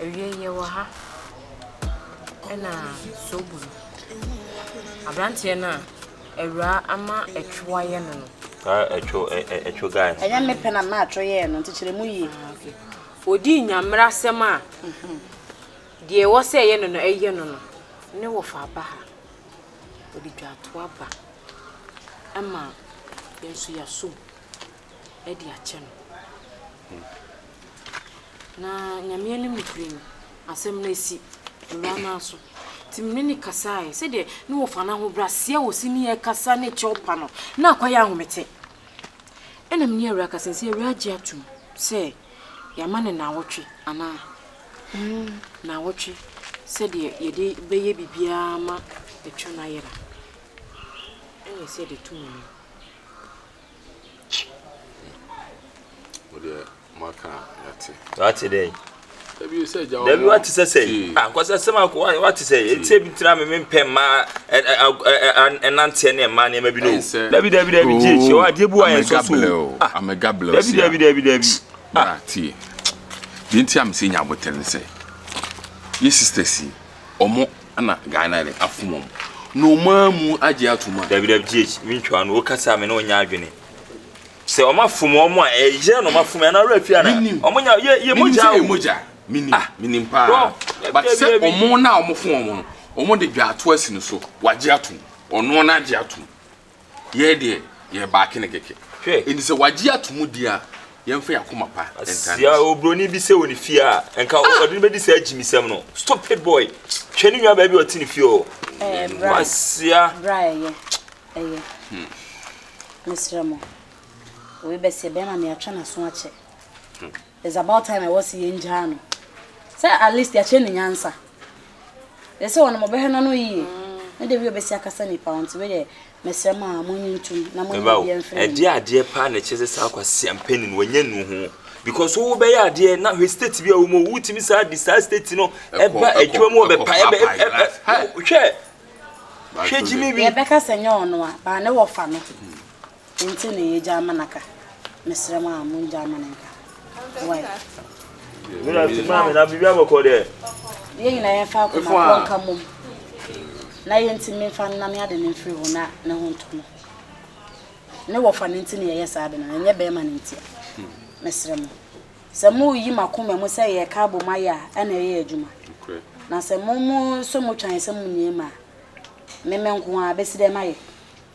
Awiei yɛwɔ ha ɛna sobo no abranteɛ no a awuraa ama ɛtwo ayɛ no no. Saa ɛtwo ɛ ɛ ɛtwo guy no. Ɛnyɛ me pɛ na maa ɛtwo yɛɛ no nti kyerɛ mu yie. Ah okay. Odii nyamera asɛm a deɛ ɛwɔ sɛ ɛyɛ no no ɛyɛ no no ne wɔfa aba ha ɔde dwa to aba ɛma yɛn nso yɛasom. de akyɛ no. Na Nyame anim nokorɛ ni, asɛm no asi Awuraa no ara so. Nti me ne no kasaeɛ, sɛdeɛ ne wɔfa no ahobrɛaseɛ a wɔsi ne yɛ kasa ne kyɛw pa no, na akɔyɛ ahomete. Ɛna me ne Awuraa kasa, nti Awuraa gye atom sɛ yɛama no naawɔtwe anaa? Mm. Naawɔtwe sɛdeɛ yɛde bɛyɛ biribiara ma atwa no ayera. Ɛna ɛsɛ yɛde to mu no. wate dɛ dabi wate sɛ sɛ ankɔsɛ ah, sɛm akɔ wate sɛ ɛtisɛ bi tira me mempɛ mmaa ɛnanteɛ ne mmaa nneɛma bi no dabi dabi dabi gye kyɛ wɔ adeɛ bi wɔ yɛn sɔ so dabi dabi dabi dabi tie deɛ nti a mesɛ nya abotɛ ne sɛ yɛ sisters yi ɔmo Ana guy na de afom ɔmo na ɔmo amu agye atom a. Dabi dabi GH me ntwa no wo kasa a me ne wo nyɛ adwene sɛ ɔmo afom ɔmo a ɛyɛ na ɔmo afom yɛ anaa wura fie ana ɔmo nya yɛ yɛ mogya o. Menim sɛ yɛ mogya menim ah. menim paa but sɛ ɔmo na ɔmo fom ɔmo no ɔmo de dwa ato asi no so wagye atom ɔno na agye atom. Yɛ deɛ yɛ baake ne kɛkɛ. Hwɛ. Enti sɛ wagye ato mu di a, yɛmfa yɛn akoma pa ntaa ne Sia oburoni bi sɛ wɔ ne fie a, nka ah! ɔde no bɛdi saa gyimisɛm no. Stupid boy. Hwɛ ne nwa baabi a ɔte ne fie o. Ɛɛ, bra. Kwasia. Bra ɛyɛ. Ɛyɛ. Hmm. Mesrɛ mo. Wei bɛseɛ bɛrima me atwa n'aso akyɛ. Hmm. It's about time ɛwɔ se yɛn gyaa no sɛ at least yɛakyerɛ no nyansa yɛ sɛ wɔnom ɔbɛhwɛ no ano yie ne da bi ɔbɛsi akasa nipa nti wei deɛ mesrɛ mo a monyi ntom na monyi Meba o, biribiara mfiri ɛdeɛ a adeɛ paa na ɛkyerɛ sɛ saa kwasia mpanin no wanya nu ho because wo bɛyɛ adeɛ na hwɛ state bi a wɔ mu o, wotumi saa de saa state no Ɛkɔ, ba ɛkɔ, adwuma mu wɔ ɛkɔ bɛpa ɛbɛ paapae ɛbɛ life. Hɛ! ɛbɛ hwɛ Back hwɛ to gyimi the- wi. Yɛbɛka sɛ nyɛ ɔno a, baa ne wɔfa no. Nti na yɛgyaa ma no aka. Mesrɛ mo a mongyaa ma no nka. Wai. Wura se maame na biribi abɔ kɔ dɛ. Yɛn nyinaa yɛmfa akoma korɔ nka mmom na yɛntumi mfa nnane ade no mfiri hɔ na ne ho ntɔ no. Ne wɔfa no nti na yɛyɛ saa ade no, ɛnyɛ bɛrima no ntia. Mesrɛ mo, sɛ moreyi mo akoma mu sɛ yɛreka abom ayɛ a, ɛna ɛyɛ adwuma. Na sɛ mo mo nso motwa yɛn sɛ monni yɛn mu a, me me nko ara bɛsi dɛn mayɛ?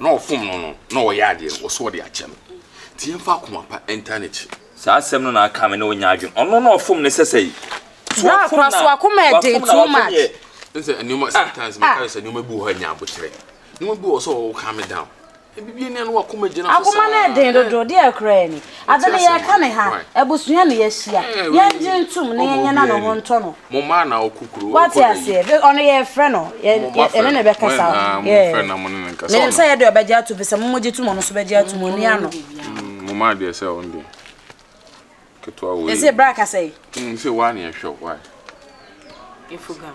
na ɔfom no no na ɔyɛ adeɛ no ɔsɛ ɔde akyɛ no nti yɛmfa akoma pa ntaa n'akyi. Saa asɛm no na aka me ne wo nyɛ adwene ɔno na ɔfom no sɛsɛ yi. Bra kora so akoma ɛden too much. Nsɛ nneɛma sometimes me kare sɛ nneɛma bi wɔ hɔ a ɛnyɛ aboterɛ nneɛma bi wɔ hɔ sɛ ɔwɔ calm me down. Ɛbi bi nia no wakoma gyina so saa. Akoma no ɛden dodo deɛ ɛkorɛ ni. Adze no yɛreka no ha, ebusua na yɛahyia, yɛngye ntum na yɛnyɛ na noho ntɔ no. Wɔatse aseɛ? Be, ɔno yɛrefrɛ no, yɛ, yɛ, yɛne no bɛkasa o. Yeah. Menim sɛ yɛde ɔbɛgye ato bi sɛ momogye tom ɔno nso bɛgye atom, onua no. Yɛse bra kasa yi. Infogam.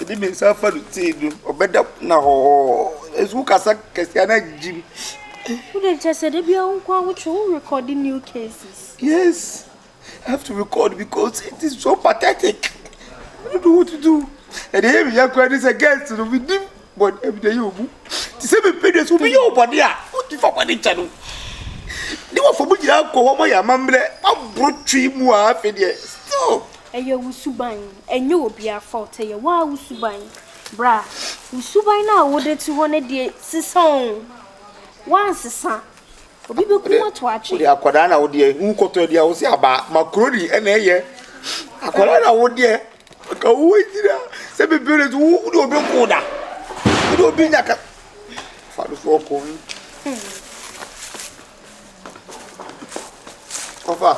Ɛde ne nsa fa no tiri do, ɔbɛda na hɔhɔɔ. Ɛso wo kasa kɛseɛ na gyim. Wo de kyɛ sɛ da bi awo nko awo kyerɛ wo record new cases. Yes, I have to record because it is so pathetic. I don't know what to do. Ɛde yɛ mi yɛ kura ne sɛ guest no mi nim. Bɔ ɛbi de yɛ obu. Te sɛ mepɛ dua sɛ obi yɛ ɔbɔne a, wodi fa bɔne kyɛ no. Ne wɔfa mu nyinaa kɔ wɔn yɛ amammerɛ aboro twe mu a afei deɛ stop. Ɛyɛ wo suban, ɛnyɛ obiara fault, ɛyɛ wo ara wo suban. Bra, wo suban no a wode te hɔ no deɛ sesa o. Woansesa, obi bɛkum ato atwe. Wode akwadaa na wodeɛ, wokɔtɔ aduane wo sɛ aba macaroni ɛna ɛyɛ. Akwadaa na wodeɛ. Ka wo gyina sɛ bebree so wo de obi ko da wo de obi nya ka fa do so ɔkɔ yi ɔfa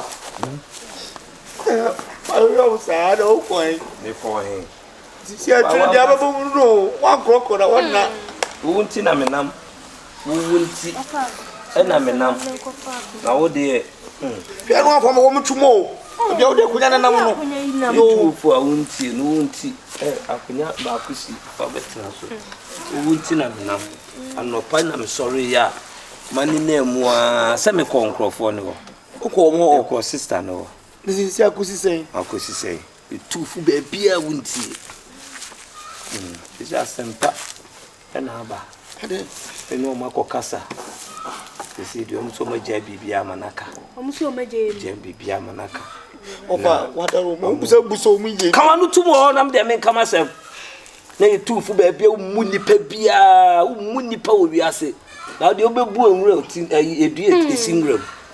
ayɛ wo saa na wokɔ yi mekɔ he sisi atwere deɛ abɛbɔ mu no woankorɔkorɔ na wɔnna wo nti na menam Wo wu nti na me nam, na wo deɛ hmm. Hwɛ no akɔma wɔn tu mo o. Ebi a wode akonya ne nam no. Yoo. Tu opo a wontie no wo nti ɛ akonya baako si wabɛtena so. Wo wu nti na me nam. Anɔpa na me sɔre yɛ a mani na emu a sɛ me kɔ nkorɔfoɔ ne hɔ. Wokɔ wɔn hɔ. Kɔ sista ne hɔ. Ne sisi akosi sɛn. Akosi sɛn. Etu fo baabi a wontie. Hmm. Sisi asɛmpa. Na aba dɛ menye hɔn akɔkasa sesei deɛ, wɔn so wɔn agyae biribiara ma no aka. Wɔn so wɔn agyae mu. Agyae biribiara ma no aka. Ɔba wadar wɔn, wɔn busa busa wɔn yie. Kama no tum wɔ hɔ nam deɛ menka m'asɛm. Na yɛ tumfo baabi a wommu nipa biara, wommu nipa wɔ wiase. Na deɛ wobɛbu nwura ti, ɛyi, edua esi nwura mu.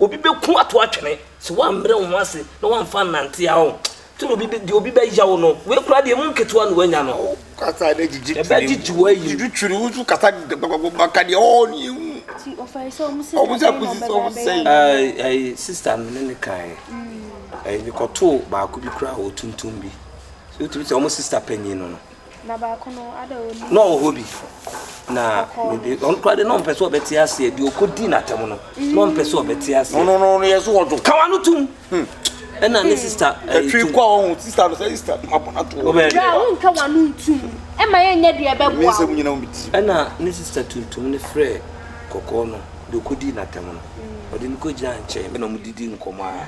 Obi bɛku ato atwene sɛ woammrɛ wo ho ase na woamfa annante a, oh, nti na obi bɛ, deɛ obi bɛyaw no, wei koraa deɛ emu nketewa na woanya no. Oh, kasa na gyigye tiri mu. Ɛbɛgyegye wo ayi. Gyigye tiri wo so kasa gbagbagba ka deɛ ɔɔ ne ehu. Ti ɔfɛre sɛ ɔmo sɛ ɔmo sɛ kusi sɛ ɔmo sɛ. Ɛɛ ɛɛ sista no ne ne kan. Ɛɛ mekɔtoo baako bi koraa wɔ tuntum bi. So wotumi sɛ ɔmo sista panyin no no. Na baako no, ada wɔ ne. Na ɔwɔ hɔ bi. Na ɔno koraa de na ɔmpɛ sɛ ɔbɛte aseɛ deɛ ɔkɔdi n'atɛm no. Na ɔmpɛ sɛ ɔbɛte aseɛ. No no no yɛ so ɔdwo. Kawa no tum. Hmm. Ɛna ne hmm. sista. Ɛtwi eh, kɔ ɔho sista no sɛ sista mabɔ no ato. Ɔbɛn. Bra wo nka wa no ntum. Ɛma yɛ nyɛ deɛ ɛbɛboa. Mi nsɛm nyina omi ti. Ɛna ne sista tuntum ne frɛ kɔkɔɔ no deɛ ɔkɔdi n'atɛm no. Hmm. Ɔde no kɔgyina nkyɛn. Ɛna ɔmo didi nkɔmɔ a.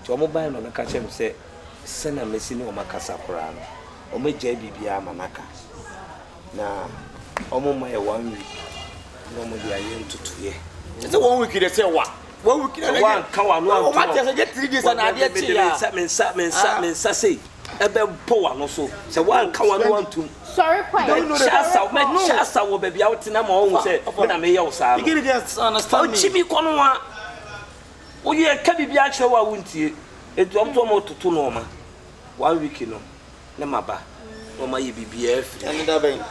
Nti wɔbae na ɔno ka kyerɛɛ me sɛ, Sɛnea masi ne wɔn akasa koraa no, wɔagyae biribiara ma no aka, na wɔmma yɛ one week na wɔde ayɛ ntotoeɛ. Kyerɛ sɛ one week deɛ sɛ wa one week na ɛyɛ wɔanka wano anto wɔn ateɛ sɛ gye three days na adeɛ kye ya me nsa me nsa me nsa sei ɛbɛbɔ wano so sɛ wɔanka wano antom sɔre kwan mɛkyɛ asa mɛkyɛ asa wɔ baabi a wote na ma wɔn sɛ me na meyɛ wo saa no ɔkyi mi kɔ no wa Wo yere ka biribi akyerɛ wo a wontie, enti wɔn nso wɔtoto nnoɔma. One week no, ne ma ba na wɔayɛ biribiara afiri mu. Ɛne da bɛn?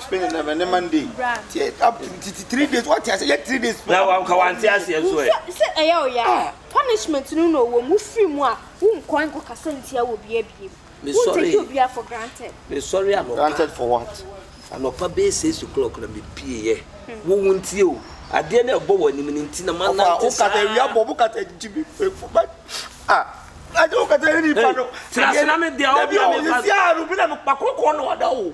Spain na bɛn ne Monday. Tie up to titi three days. Wate ase yɛ three days. Na wɔn ka wɔn te aseɛ nso ɛ. Sɛ ɛyɛ ɔyɛ a, punishment no na ɔwɔ mu. Wofiri mu a, wonkɔ nkɔkasa ntia wɔ bia biem. Mesɔree, mesɔree anɔpa, anɔpa bɛyɛ six o'clock na mepieeɛ. Wo wo ntie o, adeɛ no a ɛbɔ w'anim no nti na manante saa. Hey, tena ase na me deɛ a, wo deɛ mefa.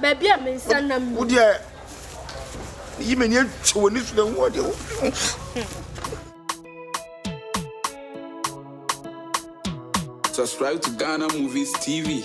Baabi a me nsa nam ni. Wo deɛ yi m'ani atwa w'ani so na wo deɛ wo. Subscribe to Ghana Movies TV.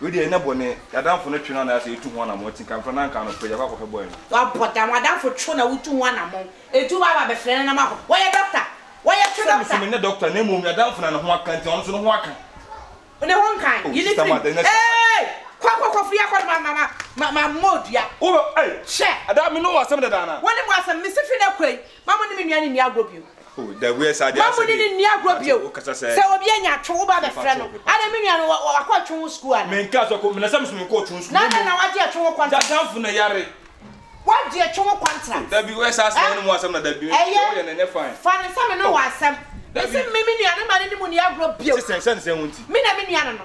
Wei deɛ ɛnyɛ bɔne, y'adamfo no twe no anaasɛ etu ho anamɔn, ti nka mfrɛ no anka anɔpa yi akɔ akɔhwɛ boy no. Wabɔ dam, w'adamfo two na wotu ho anamɔn, etu ba aba bɛfrɛ no na ma kɔ, wɔyɛ doctor, wɔyɛ so doctor. Sɛ me so menyɛ doctor na mmom y'adamfo na ne ho aka nti ɔno nso ne ho aka. Ne ho nka, yi ne tirim, eeii, kɔ kɔ kɔ firi ha kɔ na ma ma ma ma mɔ dua. Wo bɛ, ei, hwɛ. Ada me ne wo asɛm dada anaa? Wo ne mo asɛm, me se firi na kɔ yi, Mma mo ne me nua no nni agorɔ bio. Mma mo ne no nni agorɔ bio. Sɛ obi anya atwe wo ba abɛfrɛ no, adɛn me nua no wakɔ atwe ho sukuu anaa? Na adɛn na wagye atwe ho kwantra? Wagye atwe ho kwantra. Ɛyɛ, fa no sɛ me ne wo wɔ asɛm. Mese mme me nua no mma no ne mo nni agorɔ bio. Me na me nua no no.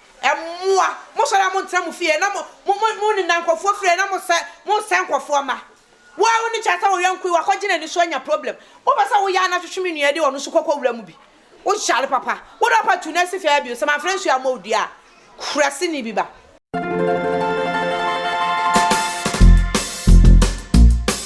Mmoa, mosɔre a montra mo fie na monena nkurɔfoɔ fie na mosɛe nkurɔfoɔ mma. Wo ara wone kyɛ sɛ wo yɔnko yi wakɔgye n'ani so anya problem. Wopɛ sɛ woyɛ a na hwehwe me nua de ɔno nso kɔkɔ wura mu bi. Wohyale papa. Wode wo papa tu na si fie ha bio. Sɛ mamfrɛ nsuo ammɔ wo dua a, kuraseni bi ba.